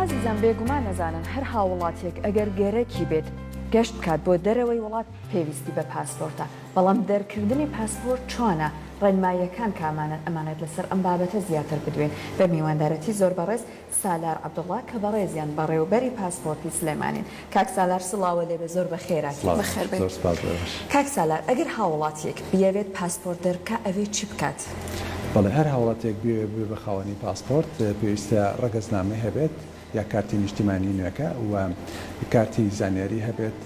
ئازیزان بێگومان نەزانن هەر هاوڵاتیەک ئەگەر گەرەکی بێت گەشت بکات بۆ دەرەوەی وڵات پێویستی بە پاسپۆرتە بەڵام دەرکردنی پاسپۆرت چۆنە ڕێنماییەکان کامانەن ئەمانەت لەسەر ئەم بابەتە زیاتر بدوێن بە میواندارەتی زۆر بەڕێز سالار عەبدوڵا کە بەڕێزیان بەڕێوبەری پاسپۆرتی سلێمانین کاک سالار سڵاوە لێبێ زۆر بەخێرا. سڵاو بەخێر بێی زۆر سپاس بۆ ئێوەش. کاک سالار ئەگەر هاوڵاتیەک بیەوێت پاسپۆرت دەربکا ئەوێ چی بکات؟ بەڵێ هەر هاوڵاتیەک بیەوێت ببێت بە خاوەنی پاسپۆرت پێویستە ڕەگەزنامەی هەبێت یا کارتی نیشتیمانی نوێکە و کارتی زانیاری هەبێت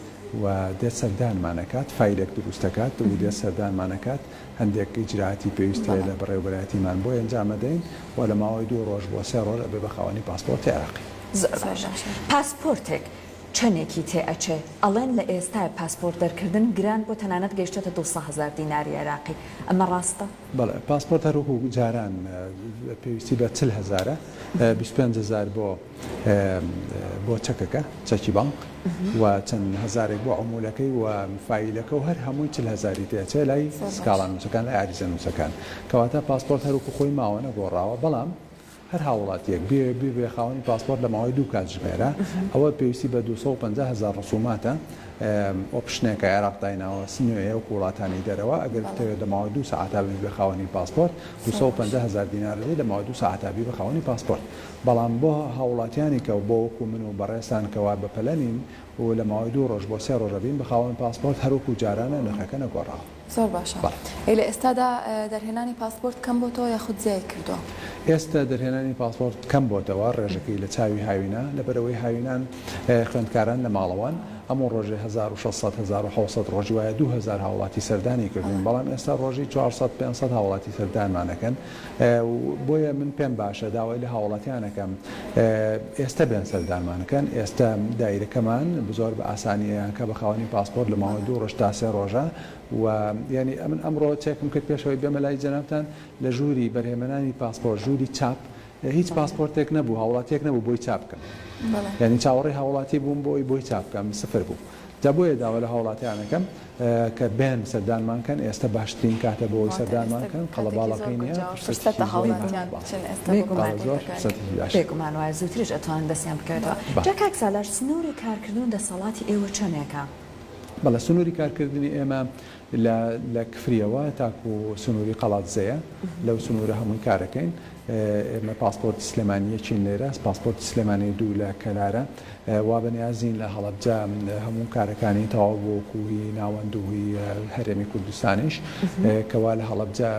و دێت سەردانمان ئەکات فایلێک دروست ئەکات و دێت سەردانمان ئەکات هەندێک ئیجرائاتی پێویست هەیە لە بەڕێوەبەرایەتیمان بۆی ئەنجام ئەدەین و لە ماوەی دوو ڕۆژ بۆ سێ ڕۆژ ئەبێت بە خاوەنی پاسپۆرتی عێراقی. زۆر باشە پاسپۆرتێک چەنێکی تێ ئەچێ؟ ئەڵێن لە ئێستای پاسپۆرت دەرکردن گران بوە تەنانەت گەیشتۆتە دوو سە هەزار دیناری عێراقی ئەمە ڕاستە؟ بەڵێ پاسپۆرت هەر وەکو جاران پێویستی بە چل هەزارە بیست و پێنج هەزار بۆ بۆ چەکەکە چەکی بانق و چەند هەزارێک بۆ عمولەکەی و فایلەکە و هەر هەمووی چل هەزاری تێ ئەچێ لای زۆر باش. سکاڵا نووسەکان لای عەریزە نووسەکان کەواتە پاسپۆرت هەر وەکو خۆی ماوە نەگۆڕاوە بەڵام هەر هاووڵاتییەک بیەوێت ببێت خاوەنی پاسپۆرت لە ماوەی دوو کاتژمێرە، ئەوە پێویستی بە دوو سەد و پەنجا هەزار ڕسووماتە، ئۆپشنێک کە عێراق دایناوە نوێیە وەکو وڵاتانی دەرەوە، ئەگەر بتەوێت لە ماوەی دوو سەعاتا ببیبە خاوەنی پاسپۆرت دوو سەد و پەنجا هەزار دینار دەدەیت لە ماوەی دوو سەعاتا ببیبە خاوەنی پاسپۆرت، بەڵام بۆ هاووڵاتیانی کە بۆ وەکو من و بەڕێزتان کەوا بەپەلە نین و لە ماوەی دوو ڕۆژ بۆ سێ ڕۆژە بین بە خاوەن پاسپۆرت هەر وەکو جارانە نرخەکە نەگۆڕاوە. زۆر باشە. ئەی لە ئێستادا دەرهێنانی پاسپۆرت کەم بۆتەوە یاخود زیای کردووە؟ ئێستا دەرهێنانی پاسپۆرت کەم بۆتەوە، ڕێژەکەی لە چاوی هاوینە، لەبەرئەوەی هاوینان خوێندکاران لە ماڵەوەن، ئەموو ڕۆژێ هەزار و شەش سەد، هەزار و حەوت سەد ڕۆژی وایە دوو هەزار هاوڵاتی سەردانی کردوون، بەڵام ئێستا ڕۆژی چوار سەد، پێنج سەد هاوڵاتی سەردانمان ئەکەن. و بۆیە من پێم باشە داوای لە هاوڵاتیان ئەکەم ئێستە بێن سەردانمان بکەن ئێستە دایرەکەمان بزۆر بە ئاسانی ئەیانکا بە خاوەنی پاسپۆرت لە ماوەی دوو ڕۆژ تا سێ ڕۆژە و یانی ئەمن ئەمڕۆ چێکم کرد پێشەوەی بێمە لای جەنابتان لە ژووری بەرهێمەنانی پاسپۆرت ژووری چاپ هیچ پاسپۆرتێک نەبوو هاوڵاتیەک نەبوو بۆی چاپ بکەم یانی چاوەڕێی هاوڵاتی بووم بۆی بۆی چاپ بکەم سفر بوو جا بۆیە داوا لە هاوڵاتیان ئەکەم کە بێن سەردانمان کەن ئێستە باشترین کاتە بۆ ئەوەی سەردانمان کەن قەڵەباڵەکەی نیە فرسەتێکی زۆری باشە بێگومان وایە زوتریش ئەتوانن دەستیان بکەوێتەوە جا کاک سالار سنوری کارکردن و دەسەڵاتی ئێوە چەنێکە؟ بەڵێ سنوری کارکردنی ئێمە لە کفریەوە تاکو سنوری قەڵادزێیە لەو سنورە هەمووی کارەکەین. ئێمە پاسپۆرتی سلێمانی یەکین لێرە پاسپۆرتی سلێمانی دوو لە کەلارە وا بە نیازین لە هەڵەبجە هەموو کارەکانی تەواو بۆ کوهی ناوەند و هوی هەرێمی کوردستانیش کەوا لە هەڵەبجە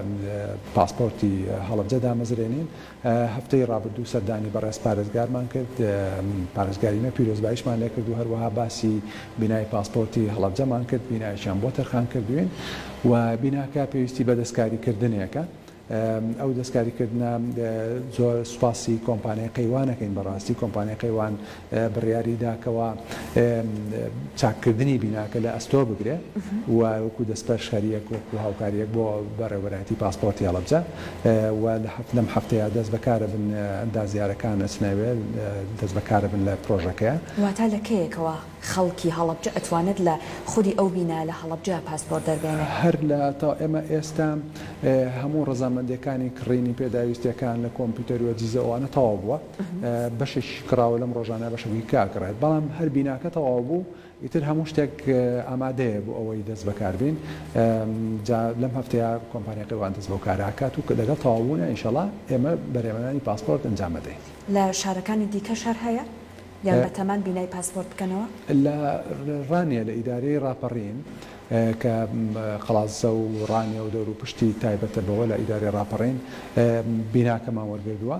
پاسپۆرتی هەڵەبجە دامەزرێنین هەفتەی ڕابردوو سەردانی بەڕێز پارێزگارمان کرد پارێزگاری نە پیرۆزبایشمان لێ کرد و هەروەها باسی بینای پاسپۆرتی هەڵەبجەمان کرد بینایەکیان بۆ تەرخان کردوین و بیناکە پێویستی بە دەستکاریکردنێکە ئەو دەستکاریکردنە زۆر سوپاسی کۆمپانیای قەیوان ئەکەین بەڕاستی کۆمپانیای قەیوان بڕیاریدا کەوا چاککردنی بیناکە لە ئەستۆ بگرێ و وەکو دەستپەرشخەریەک وەکو هاوکاریەک بۆ بەڕێوەبەرایەتی پاسپۆرتی هەڵەبجە و لە هەفت لەم هەفتەیە دەست بەکارە بن ئەندازیارەکان ئەچنەوێ دەست بەکارە بن لە پرۆژەکەیە. واتا لە کەیەکەوە؟ خەڵکی هەڵەبجە ئەتوانێت لە خودی ئەو بینا لە هەڵەبجە پاسپۆرت دەربێنێ. هەر لە تا ئێمە ئێستا هەموو ڕەزامەندیەکانی کڕینی پێداویستیەکان لە کۆمپیوتەر وەجیزە ئەوانە تەواو بووە بەشێکیش کڕاوە لەم ڕۆژانە بەشێکی کە ئەکڕێت بەڵام هەر بیناکە تەواو بوو ئیتر هەموو شتێک ئامادەیە بۆ ئەوەی دەست بەکار بین جا لەم هەفتەیە کۆمپانیا قەیوان دەست بەو کارە ئەکات و کە لەگەڵ تەواو بوونە ئینشەڵا ئێمە بەرێوەنانی پاسپۆرت ئەنجام ئەدەین. لە شارەکانی دیکەش هەر هەیە؟ یان بە تەمان بینای پاسپۆرت بکەنەوە؟ لە ڕانیە لە ئیدارەی ڕاپەڕین کە قەڵادزە و ڕانیە و دەوروپشتی تایبەتە بەوە لە ئیدارەی ڕاپەڕین بیناکەمان وەرگردووە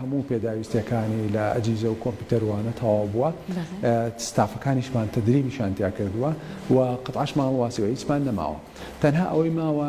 هەموو پێداویستیەکانی لە ئەجیزە و کۆمپیوتەر وانە تەواو بووە ستافەکانیشمان تەدریبیشان تیا کردووە و قەتعاشمان هەڵواسیوە هیچمان نەماوە تەنها ئەوەی ماوە